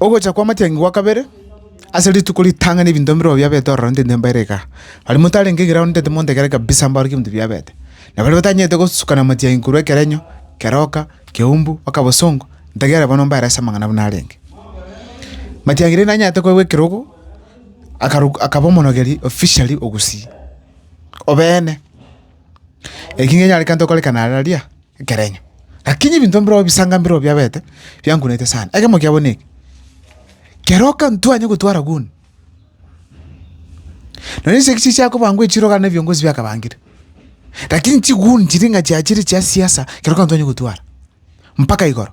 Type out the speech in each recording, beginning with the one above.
Ogocha kw'amatiangi gwa kabere, ase rituko ritang'ani ebinto mbirobio biabete ororo intende mbaire igaa. Aria motarenge egira aonde intende monto ekero kabisa mbarorokio ebinto biabete. Na baria batanyarete gosukana amatiangi korwa ekerenyo, keroka, keumbu, mpaka bosongo, ntegerere bono mbaere ase amang'ana buna arenge. Matiangi rende nanyarete koegwa ekerogo, akaruka akaba omonogeri, officially, ogusii. obeene. Eki nigo enyarete gento gokorekana ara aria ekerenyo. Rakini ebinto mbirobio ebisanga mbirobio biabete biankunete sana. Ekemo kiabo ne eke, kero okantwani ogotwara guni, nonya chisegi chiria chiakobangwa echirogo na ebiongozi biakabangire, rakini chiguni chiria ng'a chiachire chia siasa kero okantwani ogotwara mpaka igoro.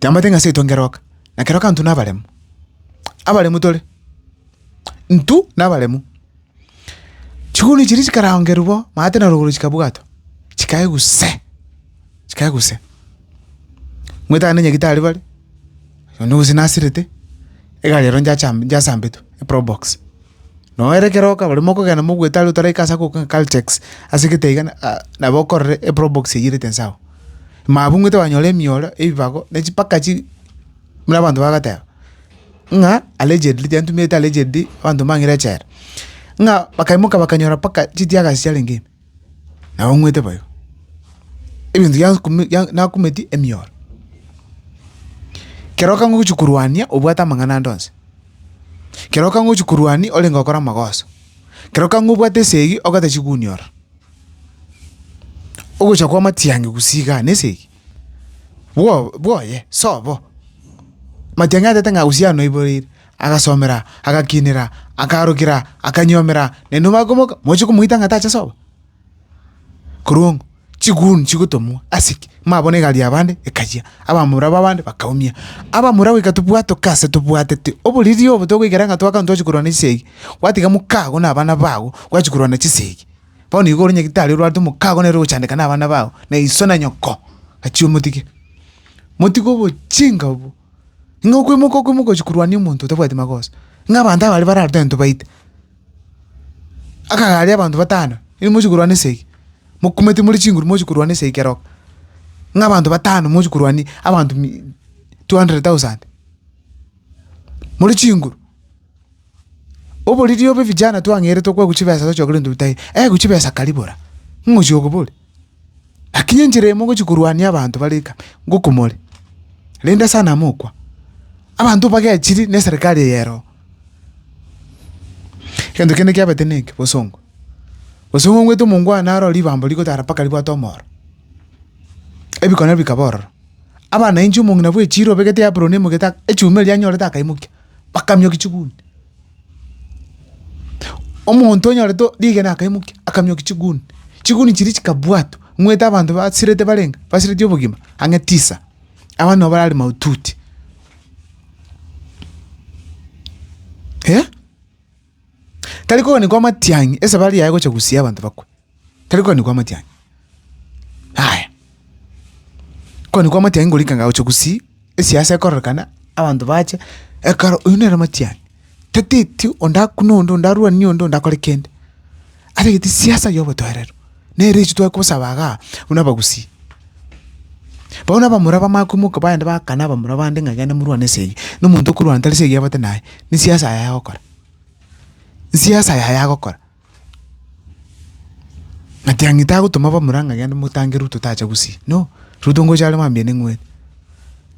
Tamanyete ng'a ase etonge roka, na kera okanto nabaremu. Abaremu tore, ntu nabaremu. Chiguruni chiria chikarangerwa bo, maate na rogoro chikabwatwa, chikae guse, chikae guse. Mwetane nyagetari bare, onde gose nasirete, egari ero njacha njasambetwe, eprobox. Noo ere kero oka baremo okogenda mogoeta are otaraika ase agoka ng'a caltex, ase gete iga na nabo okorere eprobox eywo erete inse agwo. mabung'ete banyore emioro, ebibago, ne chipaka chi, buna abanto bagoteba, ng'a allegedly, tiantumete allegedly, abanto mbang'ire echela, ng'a bakaimoka bakanyora mpaka chitiagasi chiarenge ime, nabo ng'wete bo igo. Ebinto biansi kumi bia nakumeti emioro. Kero okanga ogochi korwania obwate amang'ana ande onsi, kero okanga ogochi korwania orenge gokora amagoso, kero okanga obwate esegi ogotechiguni ororo. Ogocha kwa matiang'i gusii igaa nese eke, bwo- bwoye sobo, matiang'i atete ng'a gusii ano naiboreire, agasomera agakinera akarokera akanyiomeraa naende obakomoka mochie komoita ng'a tacha sobo? Korwa ongo chiguni chigotomwa ase ki? Mabone egari yabande ekayia, abamura babande bakaumia, abamura goika tobwate goika ase tobwatete oboriri obo togoikera ng'a twakana twachia korwana chisegi, gwatiga mokago na abana bago, gwachia korwana chisegi. Bono igo ore nyagitari orwarete omokaago nere ogochandeka na abana bao, na iso na nyoko, gachia omotige. Motige obochinga obwo, ng'a okwemoka okwemoka gochia korwania omonto otabwati magoso, ng'a abanto abare bare aroro tintwe baita. Akagare aria abanto batano, inwe mochi korwana esegi, mokumete more chinguru mochi korwana esegi keroka, ng'a abanto batano mochi korwania abanto mi two hundred thousand, more chinguru. Oboriri obo vijana twang'eretwe kwaigwa chibesa tochia kore ntobitahe, eeh chibesa kari bora, ng'o ochi okobori? Lakini enchera emo ogochi korwania abanto bare eka, ngoko more, rende sana mokwa, abanto bagechiri ne eserekari eye ero. Egento kende kiabete ne eke, bosongo. Bosongo ngweete omongwana aroo ribambo rigotara mpaka ribwate omoro, ebiko nabio bikaba ororo, abana inche omong'ina bwe echiiro obegete apron emegete echuma eria anyorete akaimokia. bakamiokia chigunia. Omonto onyorete rigena akaimokia akamiokia chigunia, chigunia chiria chikabwatwa, ng'wete abanto basirete barenge basireti obogima ang'e tisa, abande nabo barare mahututi eh. Tari koganikwa amatiang'i, esabari yaye gocha gosia abanto bakwe, tari koganikwa amatiang'i. Yaya, koganikwa amatiang'i ngorika ng'a gocha gosii, esiasa ekororekana, abanto bache, ekero oyio nere amatiang'i, tataeti onde akune onde, onde arwanie onde, onde akore kende. Atagete siasa y'obotoereru, nere inche tware kosaba igaa buna abagusii. Barabwo na abamura bamanye koimoka bagende bagakane abamura bande ng'a genda morwane ase eye, na omonto okorwana tari ase egeabate naye, ne siasa yaye agokora, siasa yaye agokora. Ng'a tiang'ite agotoma abamura ng'a genda motange Ruto tacha gusii, no, Ruto ngocha are mambia neng'wene.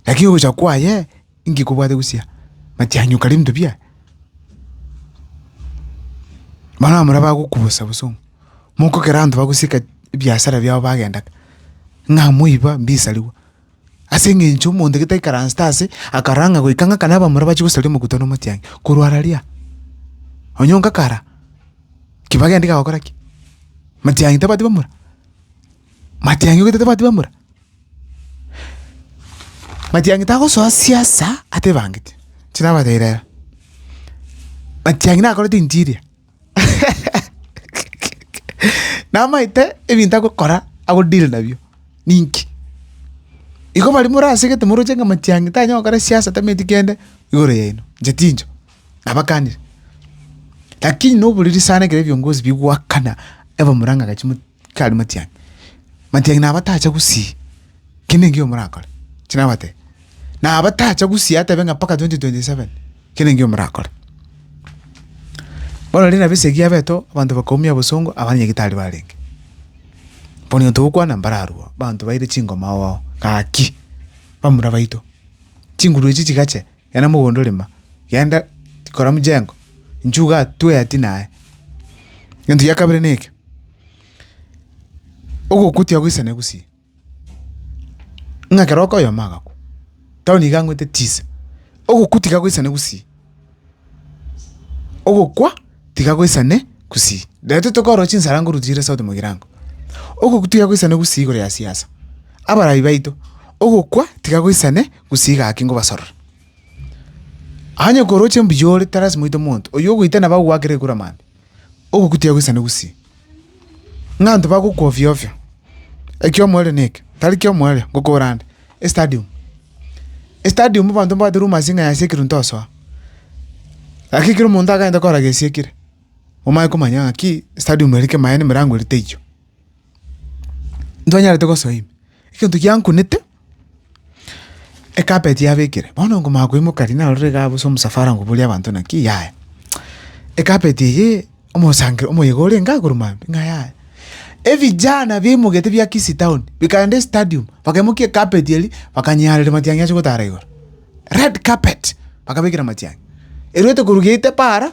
Lakini ogocha kwaye, Inki kobwate gochia matianyi okare ebinto bia Bono abamura bagokubosa bosa ong'o mokogera abanto bagoseka ebiasara biabo bagenda ka ng'a moiba mbisariwa ase eng'encho omonto gete aikaransete ase akarang'a goika ng'aka na abamura bachia gosaria omokuta na amatianyi korwa ara ria onye onga kara ki bagenda iga gokora ki? matianyi tabwati bamura? matianyi ogete tabwati bamura? Matiang'i tagosoa siasa atebangete, inche nabateire aya, Matiang'i nakorete interior namaete ebinto agokora ago deal nabio ninki? Igo baria morasegete moroche ng'a Matiang'i tanyara gokora siasa tameti kende igoro yaino, inche tincho, nabakanire. Lakini noboriri sana ekero ebiongozi bigoakana abamura ng'a gachia mo. Tari matiang'i, matiang'i nabo atacha gusii kende engiya omorakore, inche nabatebia, nabo tacha gusii atebe ng'a mpaka 2027 kende engiya omorakore. Bono riria nabo esegi yabetwa abanto bakaumia obosongo abana nyagetari barenge, bono egento togokwana mbararwo abanto baire chingoma oo, gaki bamura baito, chinguru echi chigache gena mogondo rema, genda kora mchengo, nchuga atwee ati naye. Egento gia kabere neke, ogokwa tiagoisana egusii, ng'a kero okoyoma agakwa, tao nigo ang'wete tisa, ogokwa tiga goisana egusii, ogokwa tiga goisane gusii. Riria totete korora chinsara ngoru chire sauti mogirango, ogokwa tiga goisana egusii igoro ya siasa, abarai baito, ogokwa tiga goisane. Gusii gaki ngobasorore. Onye koroche mbuya ore, tarasima oite omonto oyio ogoita nabo agogoakera ekura mambia, ogokutia agoisane gusii. Ng'a abanto bagokwa ofio ofio, ekio omoerio na ekio, tari kio omoerio, ngokora ande, estadium. Estadium abanto mbabwate rumours ng'a yasiekirwe ntosoa. Lakini kera omonto akagenda korora gesiekire, omanye komanya ng'aki estadium ere kemaene emerango ere teiyo. ntibanyarete gosoa ime, egento giankunete, ecarpet yaba ekere, bono nkomanya koimoka riria narorire igaa bosa omosafara ngoboria abanto naki yaya, ecarpet eyio omosanker omoyega orenge igoro maambia ng'a yaya. Ebijana bimogetwe bia kisii town bikaenda estadium bakaimokia ecarpet eria bakanyarera matiang'i ase gotara igoro, red carpet bakabekera matiang'i, erwete korwa gate paara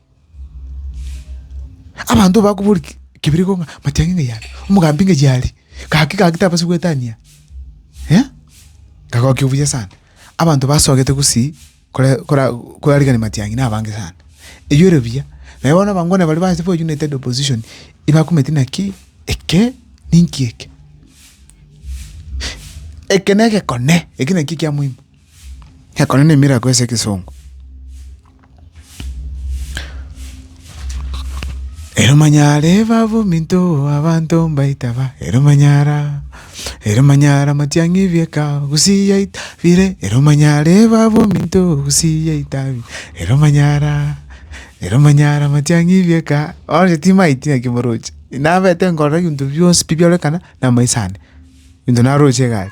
Abanto bakobori ki- kebiriko ng'a amachang'e ng'a yare, omogambi ng'a yare, gaki gaki tabasi goetania eh, kagokia obuya sana. Abanto basogete gosii kore kora korarigani matiang'i na abange sana. Eywo ere buya, naye bono abangwana baria bache ba united opposition ebakometi naki eke ninki eke. Eke na egekone, eke naki ekia moino. Ekero ne miracle ase ekesongo. Eromanyara ebabu minto abanto mbaita ba eromanyara, eromanyara matiang'i bieka gusii yaita bire eromanyara ebabu minto gusii yaita bi eromanyara, eromanyara matiang'i bieka onye timaeti naki moroche nabete nkorora ebinto bionsi pi biorekana namaiso ande, ebinto naroche iga aria.